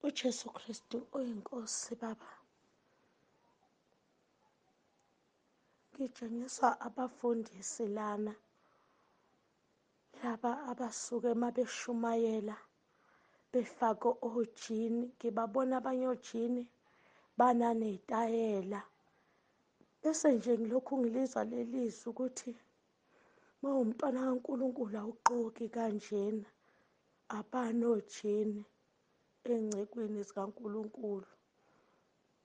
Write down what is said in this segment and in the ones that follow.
uJesu Kristu oyinkosi baba ngitshengiswa abafundisi lana laba abasuke uma beshumayela befake ojini ngibabona abanye ojini bananey'tayela bese nje ngilokhu ngilizwa lelizwi ukuthi mawumntwana kaNkulunkulu awuxoki kanjena abanojini engcekweni zikaNkulunkulu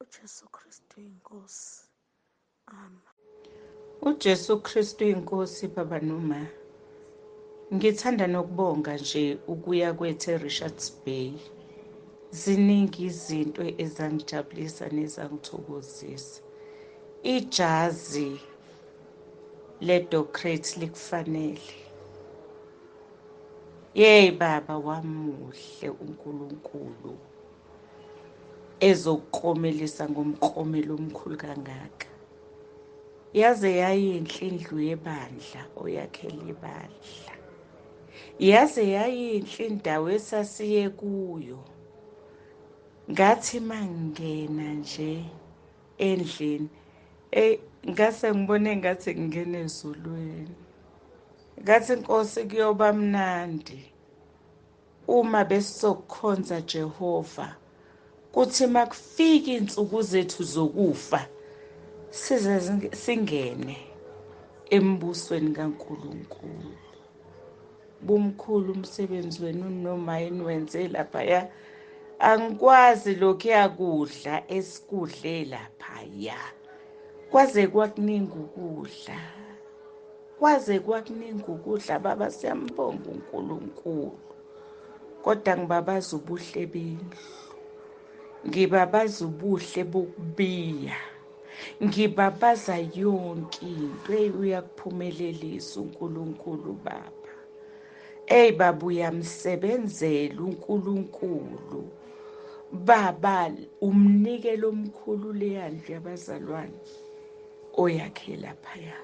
uJesu Kristu inkosi ama uJesu Kristu inkosi baba noma ngithanda nokubonga nje ukuya kwethu eRichards Bay ziningi izinto ezangijabulisa nezangithokozisa ijazi ledocrate likufanele yeyi baba wamuhle unkulunkulu ezokukromelisa ngomkromelo omkhulu kangaka yaze yayinhle indlu yebandla oyakhele ibandla yaze yayinhle indawo esasiye kuyo ngathi mangena nje endlini eyi ngase ngibone ngathi ngingena ezulwini ngathi nkosi kuyoba mnandi uma besizokukhonza Jehova kuthi makufika insuku zethu zokufa size singene embusweni kaNkuluNkulu bumkhulu umsebenzi wenu noma yini wenze laphaya angikwazi lokhu yakudla esikudle laphaya kwaze kwakuningi ukudla kwaze kwakuningi ukudla baba siyambonga uNkulunkulu kodwa ngibabaza ubuhle bendlu ngibabaza ubuhle bokubiya ngibabaza yonke into eyi uyakuphumelelisa unkulunkulu baba eyi baba uyamsebenzela unkulunkulu baba umnikelo omkhulu leya ndlu yabazalwane oyakhe laphaya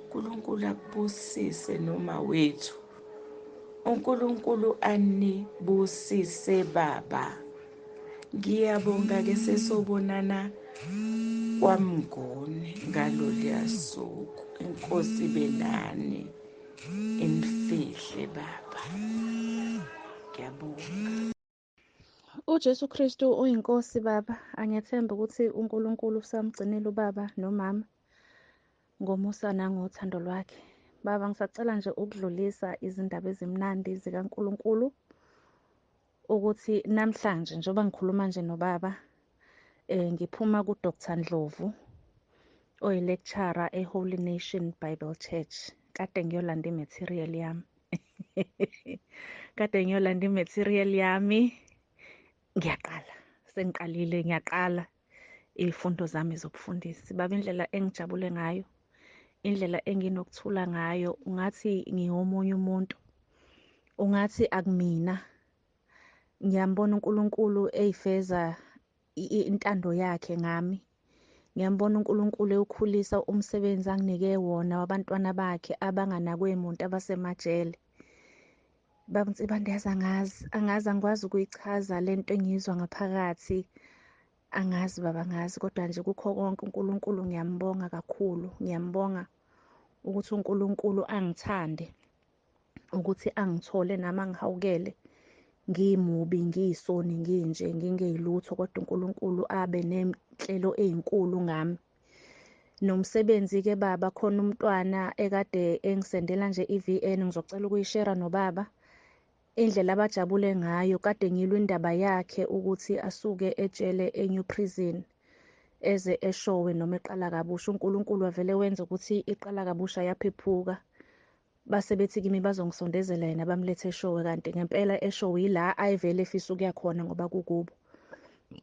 unkulunkulu akubusise noma wethu unkulunkulu anibusise baba ngiyabonga ke sesobonana kwamngoni ngaloliya suku inkosi ibe nani inifihle baba ngiyabonga uJesu Kristu uyinkosi baba angethemba ukuthi uNkulunkulu usamgcinile ubaba nomama ngomusa nangothando lwakhe baba ngisacela nje ukudlulisa izindaba ezimnandi zikaNkulunkulu ukuthi namhlanje njengoba ngikhuluma nje nobaba eh ngiphuma ku Dr Ndlovu oyi lecturer e Holy Nation Bible Church kade ngiyolanda imaterial yami kade ngiyolanda imaterial yami ngiyaqala sengiqalile ngiyaqala izifundo zami zobufundisi baba indlela engijabule ngayo indlela enginokuthula ngayo ungathi ngiwomunye umuntu ungathi akumina ngiyambona uNkulunkulu eyifeza intando yakhe ngami ngiyambona uNkulunkulu ewukhulisa umsebenzi anginike wona wabantwana bakhe abanganakwe muntu abasemajele Baba Nsibande yazi angazi angazi angikwazi ukuyichaza le nto engiyizwa ngaphakathi angazi baba angazi kodwa nje kukho konke uNkulunkulu ngiyambonga kakhulu ngiyambonga ukuthi uNkulunkulu angithande ukuthi angithole nami angihawukele ngimubi ngiyisoni nginje ngingeyilutho kodwa uNkulunkulu abe nenhlelo ezinkulu ngami nomsebenzi-ke baba khona umntwana ekade engisendela nje i-vn ngizocela ukuyishera nobaba indlela abajabule ngayo kade ngilwa indaba yakhe ukuthi asuke etshele enew prison eze eshowe noma eqala kabusha unkulunkulu wavele wenza ukuthi iqala kabusha yaphephuka base bethi kimi bazongisondezela yena bamlethe eshowe kanti ngempela eshowe yila ayevele efisa ukuya khona ngoba kukubo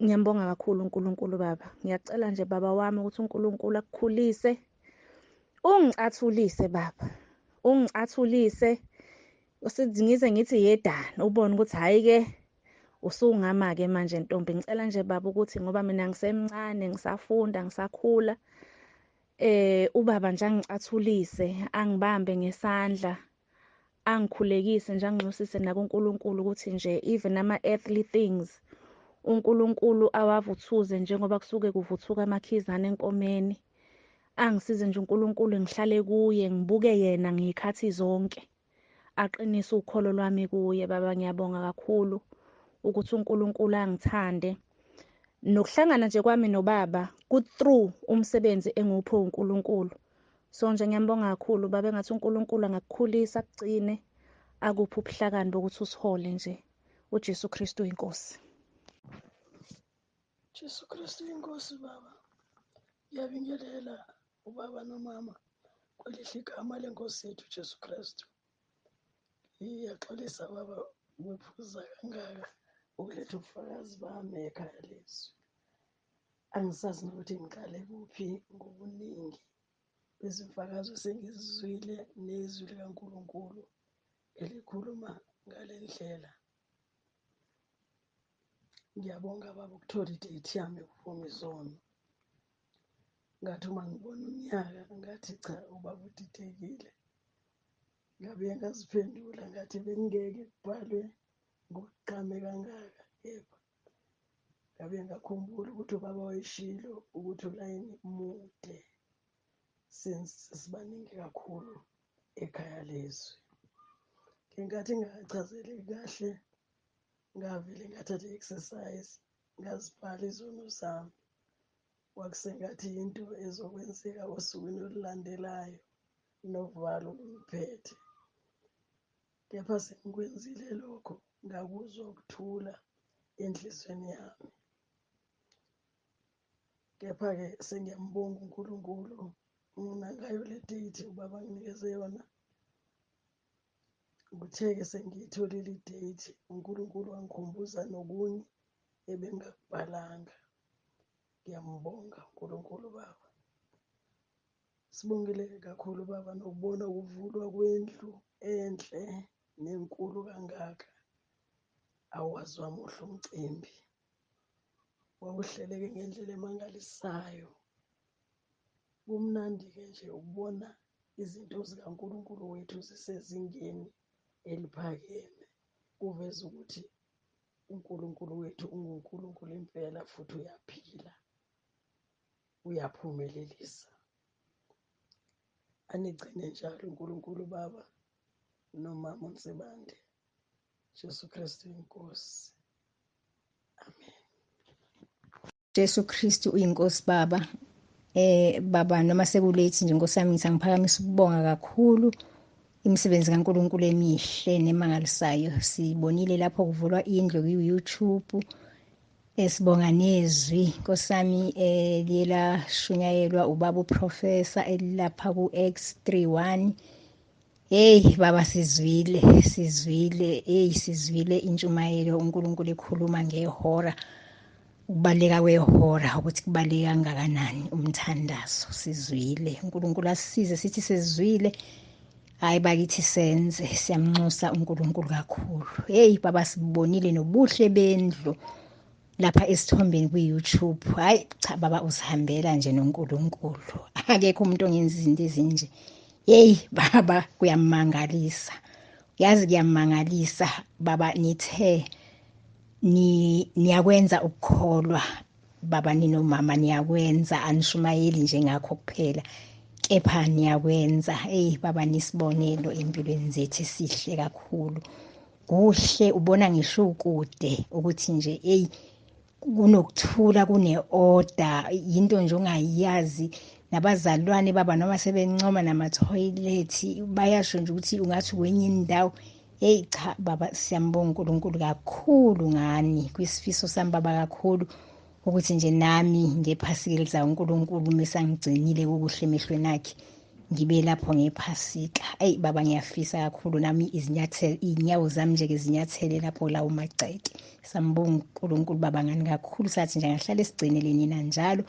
ngiyambonga kakhulu uNkulunkulu baba ngiyacela nje baba wami ukuthi uNkulunkulu akukhulise ungicathulise baba ungicathulise ngize ngithi yedana ubone ukuthi hhayi ke usungama ke manje ntombi ngicela nje baba ukuthi ngoba mina ngisemncane ngisafunda ngisakhula Eh ubaba nje angicathulise, angibambe ngesandla, angikhulekise nje anginxusise nakuNkulunkulu ukuthi nje even ama earthly things uNkulunkulu awavuthuze njengoba kusuke kuvuthuka amakhizana enkomeni. Angisize nje uNkulunkulu ngihlale kuye, ngibuke yena ngiyikhathi zonke. aqinise ukholo lwami kuye baba ngiyabonga kakhulu ukuthi uNkulunkulu angithande nokuhlangana nje kwami nobaba ku through umsebenzi engiwuphe uNkulunkulu so nje ngiyambonga kakhulu baba engathi uNkulunkulu angakukhulisa kugcine akuphi ubuhlakani bokuthi usihole nje uJesu Kristu inkosi Jesu Kristu inkosi baba ngiyabingelela ubaba nomama kwelihle igama lenkosi yethu jesu kristu iyaxolisa baba ngiphuza kangaka ukuletha ubufakazi bami ekhaya lezwi angisazi nokuthi ngiqale kuphi ngobuningi bezimfakazo sengizizwile nezwi likankulunkulu elikhuluma ngale ndlela ngiyabonga baba ukuthola idate yami ukuvuma izono ngathi uma ngibona unyaka ngathi cha ubaba udidekile ngabuye ngaziphendula ngathi bengingeke kubhalwe ngokuqame kangaka kepha ngabuye ngakhumbula ukuthi ubaba wayeshilo ukuthi ulayini mude since sibaningi kakhulu ekhaya lezwi ngenkathi ngingachazeli kahle ngavele ngathatha i-exercise Ngazibhala izono zami. Kwakusengathi yinto ezokwenzeka osukwini olulandelayo novalo lungiphethe. Kepha sengikwenzile lokho ngakuzwa ukuthula enhlizweni yami. Kepha-ke sengiyambonga uNkulunkulu mina ngayo le date ubaba nginikeze yona Ngithe-ke sengiyitholile idate uNkulunkulu wangikhumbuza nokunye ebengakubhalanga. Ngiyambonga uNkulunkulu Baba. Sibongile kakhulu Baba nokubona ukuvulwa kwendlu enhle nenkulu kangaka. Awazi wami uhle umcimbi. Wawuhleleke ngendlela emangalisayo. Kumnandi-ke nje ukubona izinto zikaNkulunkulu wethu zisezingeni eliphakeme. Kuveza ukuthi uNkulunkulu wethu unguNkulunkulu impela futhi uyaphila, uyaphumelelisa. Anigcine njalo uNkulunkulu Baba nomama uNsibande, Jesu Kristu iNkosi. Amen. Jesu Kristu uyinkosi baba eh baba noma sekulethi nje Nkosi yami ngithi angiphakamisa ukubonga kakhulu imisebenzi kaNkuluNkulu emihle nemangalisayo sibonile lapho kuvulwa indlu ku-YouTube esibonga nezwi Nkosi yami eh liyela shunyayelwa ubaba uprofessor elilapha ku-X31 Hey baba sizwile sizwile hey sizwile intshumayelo uNkulunkulu ekhuluma ngehora ukubaleka kwehora ukuthi kubaleke kangakanani umthandazo sizwile uNkulunkulu asisize sithi sizwile hayi bakithi senze siyamnxusa uNkulunkulu kakhulu hey baba sibonile nobuhle bendlu lapha esithombeni kwi-youtube hhayi cha baba usihambela nje nonkulunkulu akekho umuntu ongenza izinto ezinje yeyi baba kuyamangalisa yazi kuyamangalisa baba nithe niyakwenza ukukholwa baba ninomama niyakwenza anishumayeli njengakho kuphela kepha niyakwenza eyi baba nisibonelo empilweni zethu sihle kakhulu kuhle ubona ngisho ukude ukuthi nje eyi kunokuthula kune-order yinto nje ongayazi nabazalwane baba noma sebencoma namathoyilethi bayasho nje ukuthi ungathi kwenye indawo heyi cha baba siyambonga unkulunkulu kakhulu ngani kwisifiso sami baba kakhulu ukuthi nje nami ngephasikelisa uNkulunkulu mesangigcinile kukuhle emehlweni akhe ngibe lapho ngephasika eyi baba ngiyafisa kakhulu nami izinyathelo iy'nyawo zami nje-ke zinyathele lapho lawo magceke sambonga unkulunkulu baba ngani kakhulu sathi nje ngahlale sigcinele nina njalo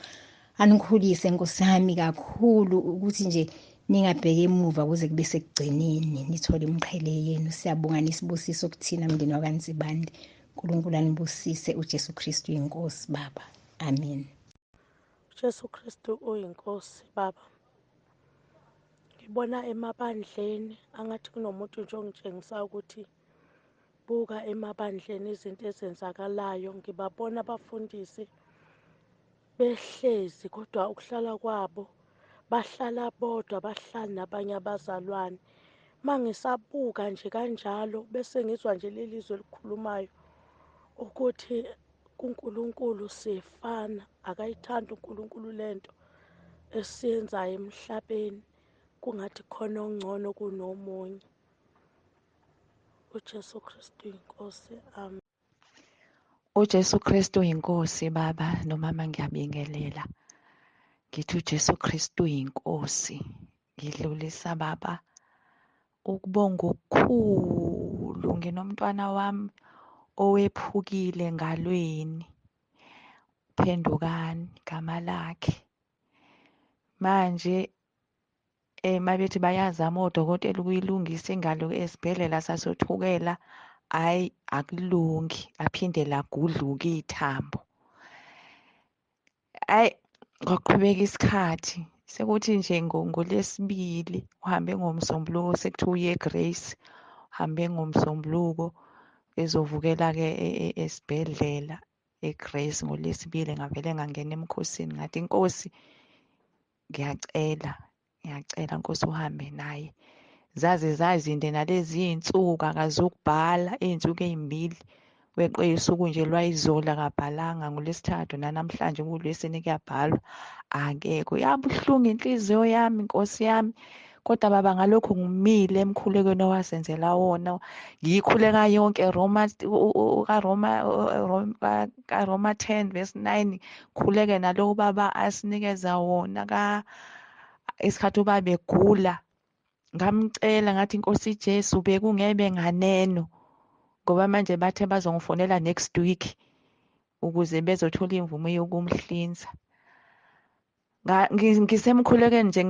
anikhulise nkosi yami kakhulu ukuthi nje ningabheki emuva kuze kube sekugcineni nithole imqhele yenu siyabonga nisibusiso kuthina mndeni wakanzibande uNkulunkulu anibusise uJesu Kristu inkosi baba amen uJesu Kristu uyinkosi baba ngibona emabandleni angathi kunomuntu nje ongitshengisa ukuthi buka emabandleni izinto ezenzakalayo ngibabona abafundisi behlezi kodwa ukuhlala kwabo bahlala bodwa bahlali nabanye abazalwane uma ngisabuka nje kanjalo bese ngizwa nje leli zwe elikhulumayo ukuthi kuNkulunkulu siyefana akayithandi uNkulunkulu lento esiyenzayo emhlabeni kungathi khona ongcono kunomunye uJesu Kristu inkosi amen uJesu Kristu yinkosi baba nomama ngiyabingelela ngithi uJesu Kristu yinkosi ngidlulisa baba ukubonga okukhulu nginomntwana wami owephukile ngalweni phendukani igama lakhe manje Eh mabethi bayazama odokotela ukuyilungisa ingalo esibhedlela sasothukela hayi akulungi aphinde lagudluka ithambo hayi kwaqhubeka isikhathi sekuthi nje ngolesibili uhambe ngomsombuluko sekuthiwa uye grace uhambe ngomsombuluko ezovukela-ke e, e, esibhedlela egrace ngolesibili ngavele ngangena emkhosini ngathi inkosi ngiyacela ngiyacela nkosi uhambe naye zaze zazinde nalezi iy'nsuku akazukubhala iy'nsuku ey'mbili weqe usuku nje lwayizolo akabhalanga ngolwesithathu nanamhlanje ngulwesine kuyabhalwa angeke uyabuhlungu inhliziyo yami nkosi yami kodwa baba ngalokho ngimile emkhulekweni owasenzela wona ngiyikhuleka yonke Roma kaRoma kaRoma 10 verse 9 khuleke nalowo baba asinikeza wona ka isikhathi uba begula ngamcela ngathi inkosi Jesu bekungebe nganeno ngoba manje bathe bazongifonela next week ukuze bezothola imvume yokumhlinza ngisemkhulekweni nje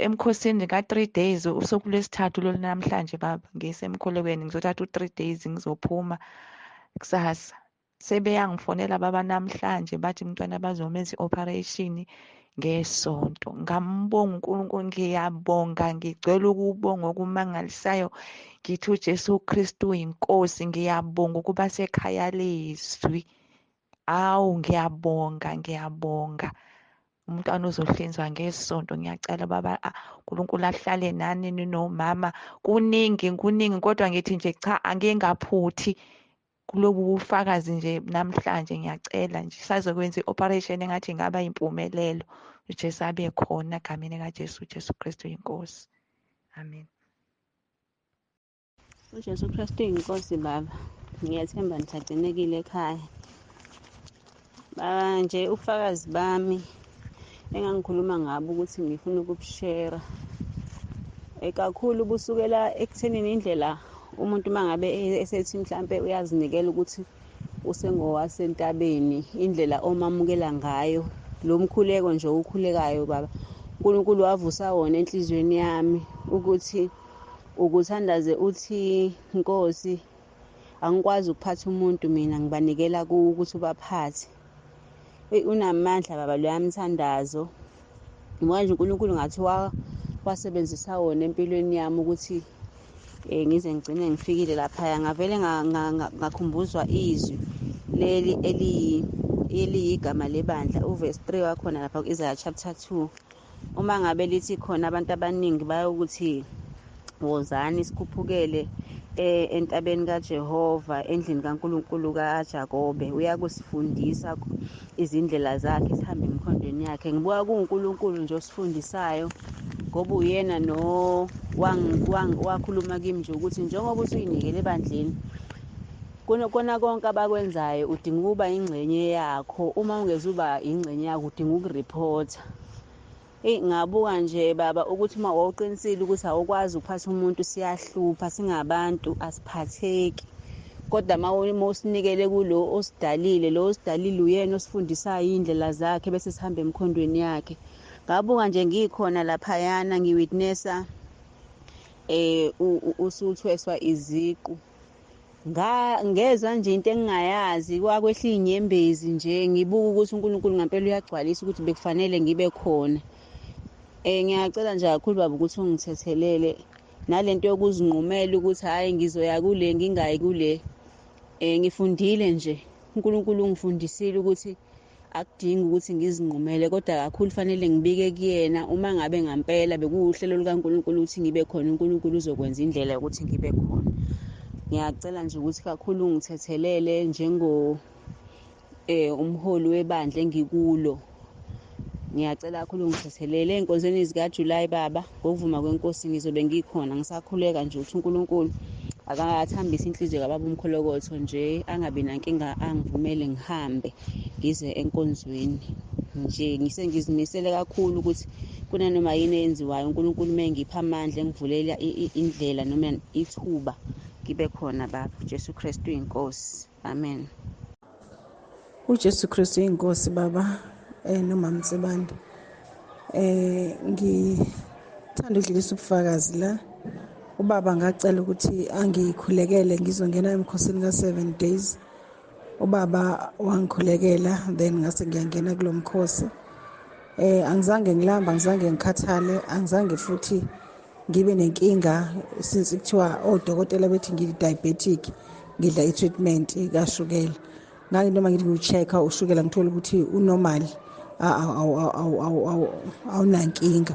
emkhosini ka-three days usuku lwesithathu lolu namhlanje baba ngisemkhulekweni ngizothatha u-three days ngizophuma kusasa sebeyangifonela baba namhlanje bathi mntwana bazomenza i-operation ngesonto ngambonga uNkulunkulu ngiyabonga ngicela ukubonga okumangalisayo ngithi uJesu Kristu inkosi ngiyabonga ukuba sekhaya lezwi Awu ngiyabonga ngiyabonga umntwana uzohlinzwa ngesonto ngiyacela baba uNkulunkulu ahlale nani ninomama kuningi kuningi kodwa ngithi nje cha angingaphuthi kulobu bufakazi nje namhlanje ngiyacela nje sazokwenza i-operation engathi ingaba impumelelo uJesu abe khona egameni kaJesu uJesu Kristu inkosi amen ujesu kristu uyinkosi baba ngiyathemba ngisagcinekile ekhaya baba nje ubufakazi bami engangikhuluma ngabo ukuthi ngifuna ukubushera eh, kakhulu busukela ekuthenini indlela umuntu uma ngabe e-, esethi mhlampe uyazinikela ukuthi usengowasentabeni indlela omamukela ngayo lo mkhuleko nje ukhulekayo baba unkulunkulu wavusa wona enhliziyweni yami ukuthi ukuthandaze uthi nkosi angikwazi ukuphatha umuntu mina ngibanikela kuwo ukuthi ubaphathe eyi unamandla baba loya mthandazo ngoba nje unkulunkulu ngathi wasebenzisa wona empilweni yami ukuthi um ngize ngigcine ngifikile laphaya ngavele ngakhumbuzwa izwi leli eliyigama lebandla uvesi 3 wakhona lapha ku-isaya chapter 2 uma ngabe lithi khona abantu abaningi bayokuthi wozani sikhuphukele eh, entabeni kaJehova endlini kaNkulunkulu kaJakobe uyakusifundisa izindlela zakhe sihambe emkhondweni yakhe ngibuka kuNkulunkulu nje osifundisayo ngoba uyena no wakhuluma kimi nje ukuthi njengoba usuyinikele ebandleni Kona kona konke abakwenzayo udinga ukuba ingxenye yakho uma ungezuba ingxenye yakho udinga ukureporter eyi ngabuka nje baba ukuthi uma wawuqinisile ukuthi awukwazi ukuphatha umuntu siyahlupha singabantu asiphatheki kodwa uma usinikele kulo osidalile lo osidalile uyena osifundisayo iy'ndlela zakhe bese sihamba emkhondweni yakhe ngabuka nje ngikhona laphayana ngiwitnessa um usuthweswa iziqu ngezwa nje into engingayazi kwakwehla iy'nyembezi nje ngibuke ukuthi unkulunkulu ngampela uyagcwalisa ukuthi bekufanele ngibe khona um ngiyacela nje kakhulu baba ukuthi ungithethelele nale nto yokuzinqumela ukuthi hhayi ngizoya kule ngingayi kule um ngifundile nje unkulunkulu ungifundisile ukuthi akudingi ukuthi ngizinqumele kodwa kakhulu fanele ngibike kuyena uma ngabe ngampela bekuwuhlelo lukaNkulunkulu ukuthi ngibe khona uNkulunkulu uzokwenza indlela yokuthi ngibe khona ngiyacela nje ukuthi kakhulu ngithethelele njengo eh umholi webandla engikulo ngiyacela kakhulu ngithethelele enkonzweni zikaJuly baba ngokuvuma kwenkosi ngizobe ngikhona ngisakhuleka nje ukuthi unkulunkulu akathambise inhliziyo kababa umkholokotho nje angabi nankinga angivumele ngihambe ngize enkonzweni nje ngisengizimisele kakhulu ukuthi kunanoma yini eyenziwayo unkulunkulu uma engipha amandla engivulela indlela noma ithuba ngibe khona baba jesu kristu inkosi amen uJesu Kristu inkosi baba eh nomama Msebande eh ngithanda ukudlulisa ubufakazi la ubaba ngacela ukuthi angikhulekele ngizongena emkhosini ka 7 days ubaba wangikhulekela then ngase ngiyangena kulomkhosi eh angizange ngilamba angizange ngikhathale angizange futhi ngibe nenkinga since kuthiwa odokotela bethi ngiyi-diabetic ngidla i-treatment kashukela ngake noma ngithi ngiwu-check-a ushukela ngithole ukuthi unormal awunankinga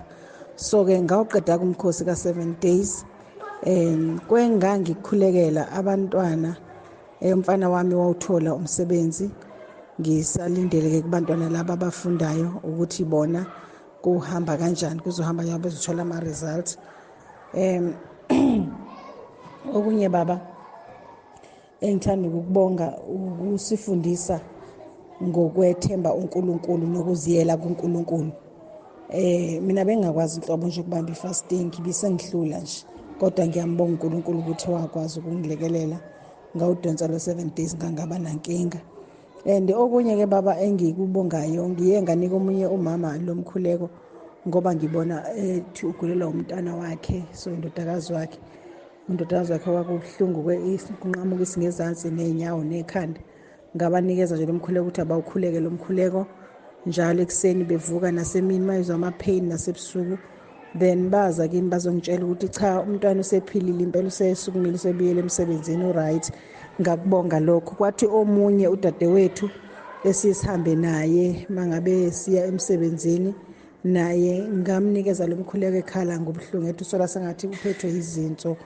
so-ke ngawuqeda-ke umkhosi ka-seven days um kwengangikhulekela abantwana eh, umfana wami wawuthola umsebenzi ngisalindele-ke kubantwana laba abafundayo ukuthi bona kuhamba kanjani kuzohamba njengoba bezithola ama-results um okunye baba engithanda ukukubonga ukusifundisa ngokwethemba uNkulunkulu nokuziyela kuNkulunkulu eh mina bengakwazi inhlobo nje ukubamba ifasting ibisengihlula nje kodwa ngiyambonga uNkulunkulu ukuthi wakwazi ukungilekelela ngawudonsa lo 7 days ngangaba nankinga and okunye ke baba engikubongayo ngiye nganika omunye umama lo mkhuleko ngoba ngibona ethi ugulelwa umntana wakhe so indodakazi wakhe indodakazi wakhe kwakubuhlungu kunqamuka isingezansi ney'nyawo nekhanda ngabanikeza nje lo mkhuleko ukuthi abawukhuleke lo mkhuleko njalo ekuseni bevuka nasemini mayizwa ama-pain nasebusuku then baza kimi bazongitshela ukuthi cha umntwana usephilile impela usesukumile usebuyele emsebenzini uright ngakubonga lokho kwathi omunye udadewethu esisihambe naye mangabe siya emsebenzini naye ngamnikeza lo mkhuleko ekhala ngobuhlungu ethi usola sengathi uphethwe yizinso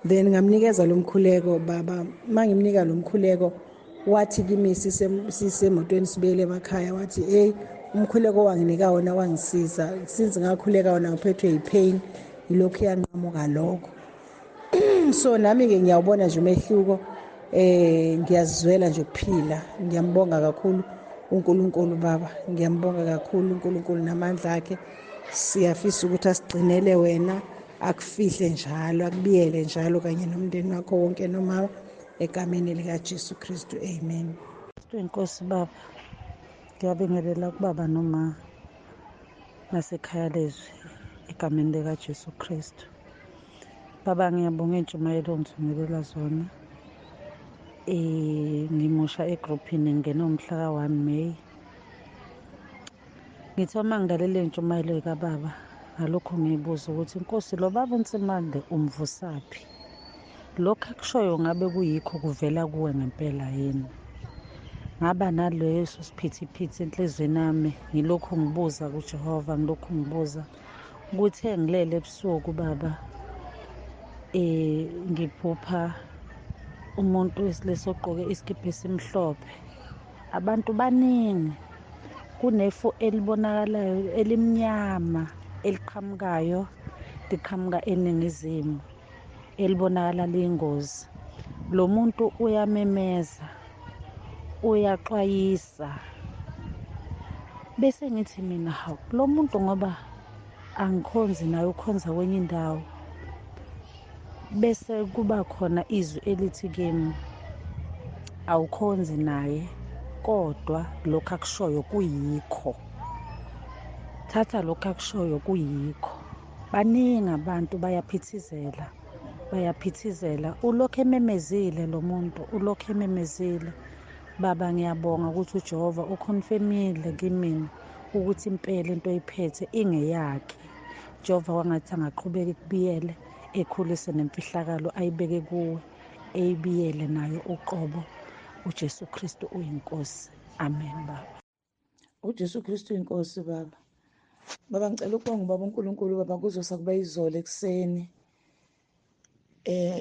then ngamnikeza lo mkhuleko baba mangimnika lo mkhuleko wathi kimi sisemotweni sibuyele emakhaya wathi eyi umkhuleko owanginika wona wangisiza since ngakhuleka wona ngiphethwe yipain yilokhu yanqamuka lokho so nami-ke ngiyawubona nje umehluko eh ngiyazizwela nje ukuphila ngiyambonga kakhulu uNkulunkulu baba ngiyambonga kakhulu uNkulunkulu namandla akhe siyafisa ukuthi asigcinele wena akufihle njalo akubiyele njalo kanye nomndeni wakho wonke nomama egameni likaJesu Kristu amen inkosi baba ngiyabingelela kubaba noma nasekhaya lezwi egameni likaJesu Kristu baba ngiyabonga intshumayelo ongithumelela zona eh ngimusha egrouphini ngingena umhla ka-1 May Ngithi uma ngilalele intshumayelo kababa ngalokhu ngiyibuza ukuthi inkosi lo baba unsimande umvusaphi lokhu akushoyo ngabe kuyikho kuvela kuwe ngempela yini ngaba naleso siphithiphithi enhliziyweni yami ngilokhu ngibuza kujehova ngilokhu ngibuza kuthe ngilele ebusuku baba eh ngiphupha umuntu wesilisa ogqoke isikibha esimhlophe abantu baningi kunefu elibonakalayo elimnyama eliqhamukayo liqhamuka eningizimu elibonakala liyingozi lo muntu uyamemeza uyaxwayisa bese ngithi mina hawu lo muntu ngoba angikhonzi naye ukhonza kwenye indawo bese kuba khona izwi elithi kimi awukhonzi naye kodwa lokhu akushoyo kuyikho thatha lokhu akushoyo kuyikho baningi abantu bayaphithizela bayaphithizela ulokhu ememezile lo muntu ulokhu ememezile baba ngiyabonga ukuthi ujehova ukhonfemile kimina ukuthi impela into oyiphethe ingeyakhe jehova kwangathi angaqhubeka ikubiyele ekhulise nemfihlakalo ayibeke kuwe eyibiyele nayo uqobo ujesu kristu uyinkosi amen baba ujesu kristu uyinkosi baba baba ngicela ukubonga ubaba unkulunkulu baba kuzosa kuba izolo ekuseni eh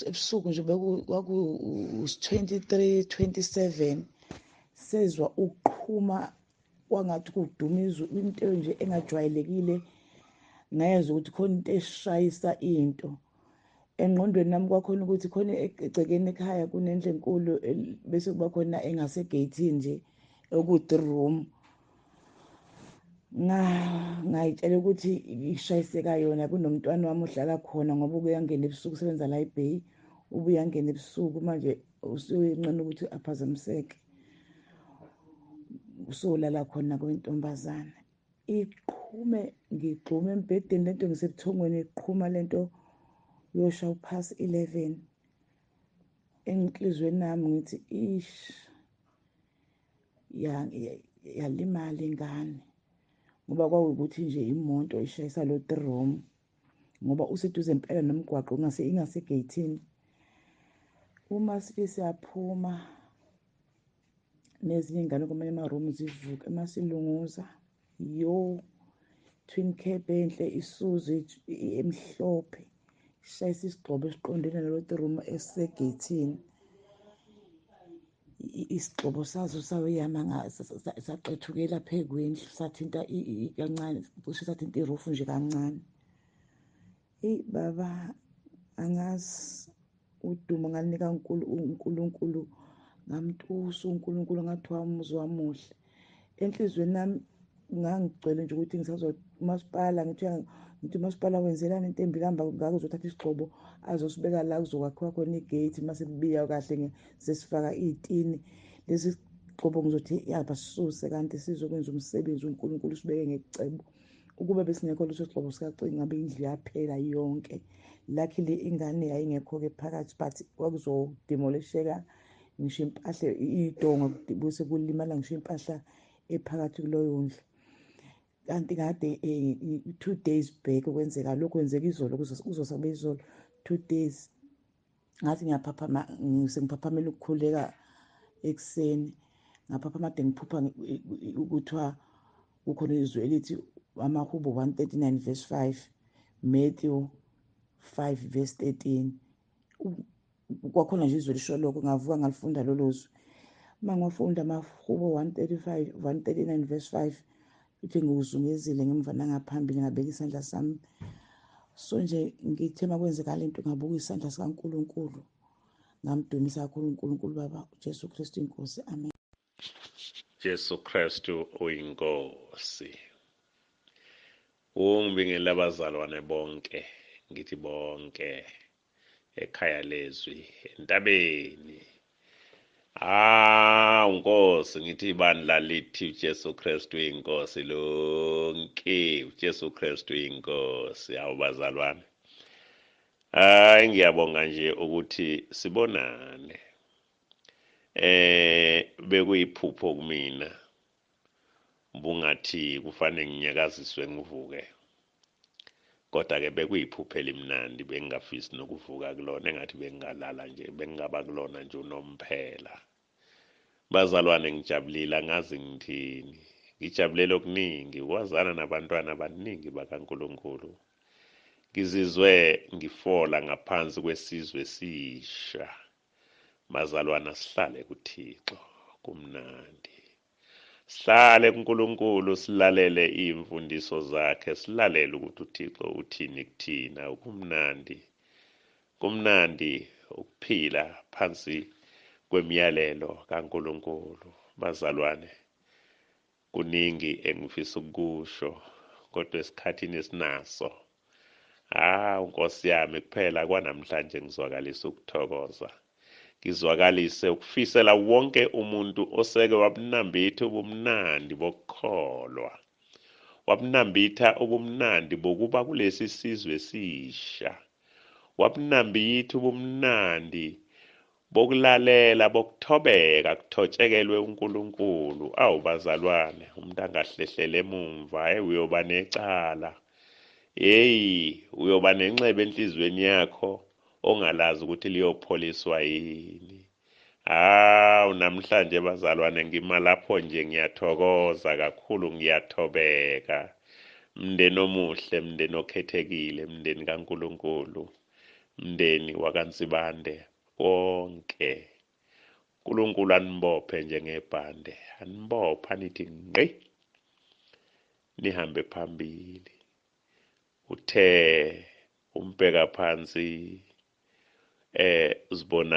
ebusuku nje kwaku 23 27 sezwa ukuqhuma kwangathi kuduma izwi into nje engajwayelekile ngezwa ukuthi khona into eshayisa into engqondweni nami kwakhona ukuthi khona egcekeni ekhaya kunendle enkulu bese kuba khona engasegeyithini nje okuthi room ngayitshela ukuthi ishayiseka yona kunomntwana wami ohlala khona ngoba ukuyangena ebusuku usebenza la ebay ubuyangena ebusuku manje usuyincane ukuthi aphazamiseke usolala khona kwentombazana iqhume ngigxume embhedeni lento ngisebuthongweni iqhuma lento yosha uphasi 11 enhlizweni nami ngithi ish yalimala ingane ngoba kwawukuthi nje imoto ishayisa lo trom ngoba useduze impela nomgwaqo ingase ingasegeyithini uma sike siyaphuma nezinye ingane kumele emaroom zivuke uma silunguza yo twin cape enhle isuzu emhlophe ishayisa isigxobo esiqondene naloti room esisegeyithini isigxobo sazo sayoyama saqethukela phe kwendlu sathinta kancane cishe sathinta irufu nje kancane eyi baba angazi udumo ngalinika unkulunkulu ngamtusa unkulunkulu ngathi wamuzwa muhle enhliziyweni nami ngangigcwele nje ukuthi ngisazomasipala ngithi ngithi umasipala wenzelani into embi kamba ngake uzothatha isigxobo azosibeka la kuzokwakhiwa khona igate uma sekubiya kahle sesifaka iy'tini lesi sigxobo ngizothi yabasuse kanti sizokwenza umsebenzi unkulunkulu usibeke ngecebo ukuba besingekho leso sigxobo sikacini ngabe indlu yaphela yonke luckily ingane yayingekho-ke phakathi but kwakuzodemolisheka ngisho impahla idonga bese kulimala ngisho impahla ephakathi kuloyo ndlu kanti kade eh, two days back kwenzeka lokhu kwenzeka izolo kuzosaba izolo two days ngathi ngiyaphaphama sengiphaphamela ukukhuleka ekuseni ngaphaphama de ngiphupha kuthiwa kukhona izwi elithi amahubo 139 verse 5 matthew 5 verse 13 kwakhona nje izwe lisho lokho ngavuka ngalifunda lolo zwi uma ngiwafunda amahubo 135 139 verse 5 ithi ngiwuzungezile ngemva nangaphambili ngabeka isandla sami so nje ngithe uma kwenzeka le nto ngabuka isandla sikankulunkulu ngamdumisa kakhulu unkulunkulu baba ujesu kristu inkosi amen Jesu Kristu uyinkosi. Ungibingele abazalwane bonke, ngithi bonke ekhaya lezwi entabeni. Ah, uNkosi ngithi ibandla lithi uJesu Kristu uyinkosi lonke, uJesu Kristu uyinkosi. Hawu bazalwane. Hayi ngiyabonga nje ukuthi sibonane. eh bekuyiphupho kumina bungathi kufanele nginyakaziswe ngivuke kodwa ke bekuyiphupho elimnandi bengingafisi nokuvuka kulona engathi bengingalala nje bengingaba kulona nje unomphela bazalwane ngijabulile angazi ngithini ngijabulela okuningi ukwazana nabantwana abaningi bakaNkuluNkulu ngizizwe ngifola ngaphansi kwesizwe esisha Mazalwana sihlale kuThixo kumnandi. Sihlale kuNkulunkulu silalele iy'mfundiso zakhe silalele ukuthi uThixo uthini kuthina kumnandi. Kumnandi ukuphila phansi kwemiyalelo kaNkulunkulu bazalwane. Kuningi engifisa ukukusho kodwa esikhathini esinaso. Hawu Nkosi yami kuphela kwanamhlanje ngizwakalisa ukuthokoza. Ngizwakalise ukufisela wonke umuntu oseke wabunambitha ubumnandi bokukholwa. Wabunambitha ubumnandi bokuba kulesi sizwe esisha. Wabunambitha ubumnandi bokulalela bokuthobeka kuthotshekelwe uNkulunkulu awu bazalwane umuntu angahlehlele emumva hey uyoba necala hey uyoba nenxeba enhlizweni yakho ongalazi ukuthi liyopholiswa yini hawu namhlanje bazalwane ngima lapho nje ngiyathokoza kakhulu ngiyathobeka mndeni omuhle mndeni okhethekile mndeni kaNkulunkulu mndeni wakaNsibande konke uNkulunkulu anibophe njengebhande anibophe anithi ngqi nihambe phambili uthe umbheka phansi eh uzibona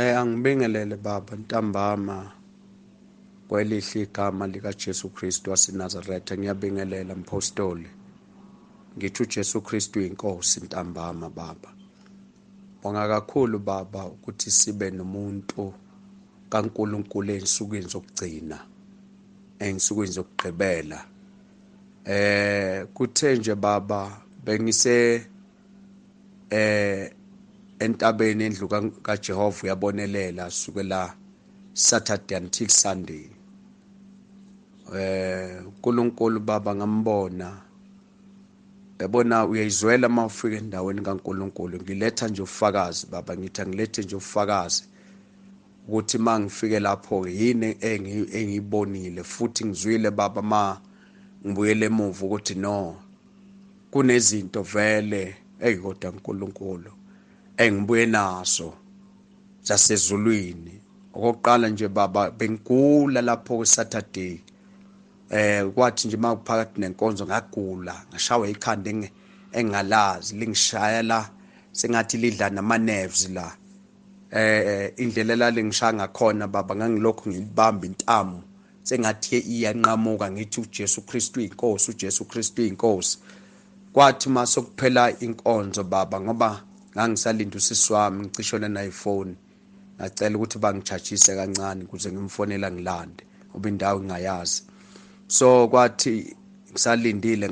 Eh angibingelele baba ntambama kwelihle igama likaJesu Kristu waseNazaretha ngiyabingelela mpostoli ngithi uJesu Kristu inkosi ntambama baba bonga kakhulu baba ukuthi sibe nomuntu kaNkuluNkulu ensukwini zokugcina ensukwini zokugqibela eh kuthe nje baba bengise eh entabeni endlu kaJehova uyabonelela suke la Saturday until Sunday eh uNkulunkulu baba ngambona yabona uyayizwela uma ufika endaweni kaNkulunkulu ngiletha nje ufakazi baba ngithi angilethe nje ufakazi ukuthi uma ngifike lapho yini engiyibonile futhi ngizwile baba ma ngibuyele emuva ukuthi no kunezinto vele eyi kodwa nkulunkulu engibuye nazo zasezulwini okokuqala nje baba bengigula lapho kwesaturday eh kwathi nje makuphakathi nenkonzo ngagula ngashawa ikhanda engalazi lingishaya la sengathi lidla nama nerves la eh indlela lalingishaya ngakhona baba ngangilokhu ngilibamba intamo sengathi iyanqamuka ngithi uJesu Kristu inkosi uJesu Kristu inkosi kwathi masokuphela inkonzo baba ngoba ngangisalinda usisi wami ngicishone naye ifoni ngacela ukuthi bangichajise kancane ukuze ngimfonela ngilande ngoba indawo ngingayazi so kwathi ngisalindile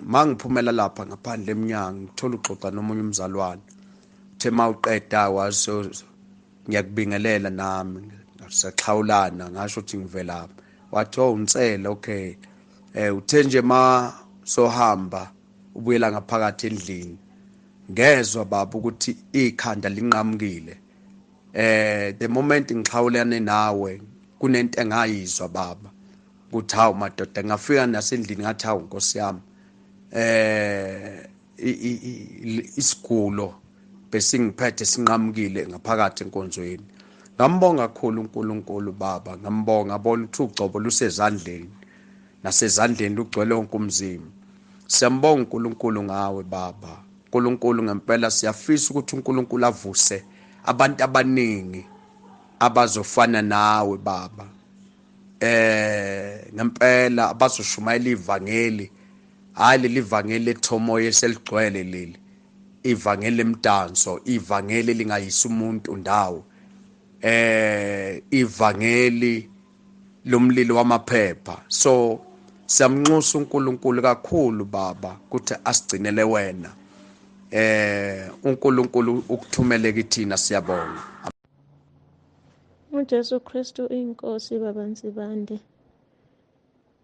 mangiphumela lapha ngaphandle emnyango ngithola uxoxa nomunye umzalwane uthe mawuqeda waso ngiyakubingelela nami saxhawulana ngasho ukuthi ngivelaphi wathi oh unsele okay eh uthe nje ma sohamba ubuyela ngaphakathi endlini ngezwa baba ukuthi ikhanda linqamukile eh the moment ngixhawulane nawe kunento engayizwa baba ukuthi hawu madoda ngafika nasendlini ngathi hawu nkosi yami eh isigulo besingiphethe sinqamukile ngaphakathi enkonzweni ngambonga kakhulu uNkulunkulu baba ngambonga bona ukuthi ugcobo lusezandleni nasezandleni lugcwele wonke umzimba siyambonga uNkulunkulu ngawe baba uNkulunkulu ngempela siyafisa ukuthi uNkulunkulu avuse abantu abaningi abazofana nawe baba eh ngempela abazoshumayela ivangeli Hayi leli vangeli lethomoya eseligcwele leli. Ivangeli lemdanso, ivangeli lingayisa umuntu ndawo. Eh ivangeli lomlilo wamaphepha. So siyamnxusa uNkulunkulu kakhulu baba ukuthi asigcinele wena. Eh uNkulunkulu ukuthumele kithina siyabonga. uJesu Kristu inkosi baba Nsibande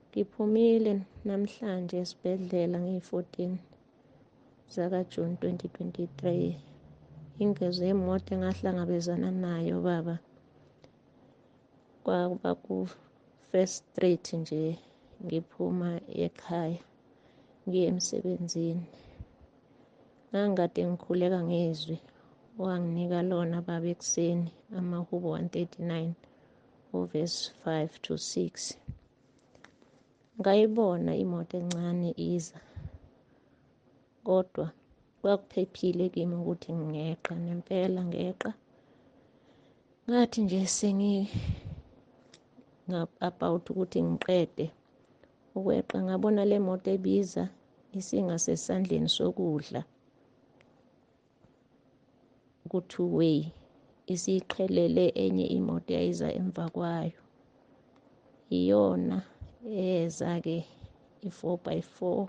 Ngiphumile namhlanje esibhedlela ngiyi-14 zakaJuni 2023. Ingozi yemoto engahlangabezana nayo baba kwakuba ku-First Street nje ngiphuma ekhaya ngiye emsebenzini. Ngangikade ngikhuleka ngezwi owanginika lona baba ekuseni amahubo 139. uverse 5 to 6 ngayibona imoto encane iza kodwa kwakuphephile kimi ukuthi ngeqa nempela ngeqa ngathi nje sengi about ukuthi ngiqede ukweqa ngabona le moto ebiza isingasesandleni sokudla ku-two way isiqhelele enye imoto yayiza emva kwayo iyona eza-ke i-four by four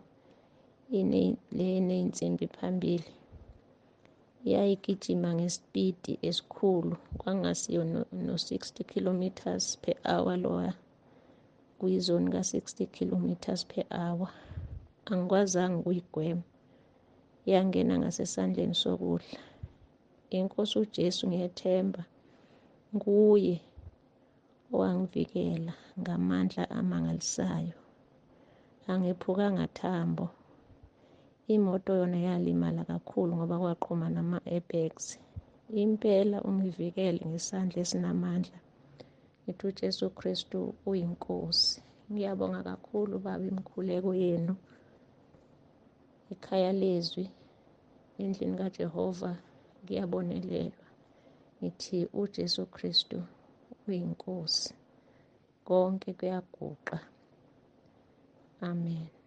leney'nsimbi phambili yayigijima ngesipidi esikhulu kwangasiyo no-60 kilometers per hour lowa kuyizoni ka-60 kilometers per hour angikwazanga ukuyigwema yangena ngasesandleni sokudla inkosi uJesu ngiyethemba nguye owangivikela ngamandla amangalisayo angephukanga thambo imoto yona yalimala kakhulu ngoba kwaqhuma nama-airbags impela ungivikele ngesandla esinamandla ngithi uJesu Kristu uyinkosi ngiyabonga kakhulu baba imikhuleko yenu ikhaya lezwi endlini kajehova kuyabonelelwa ngithi ujesu kristu uyinkosi konke kuyaguqa amen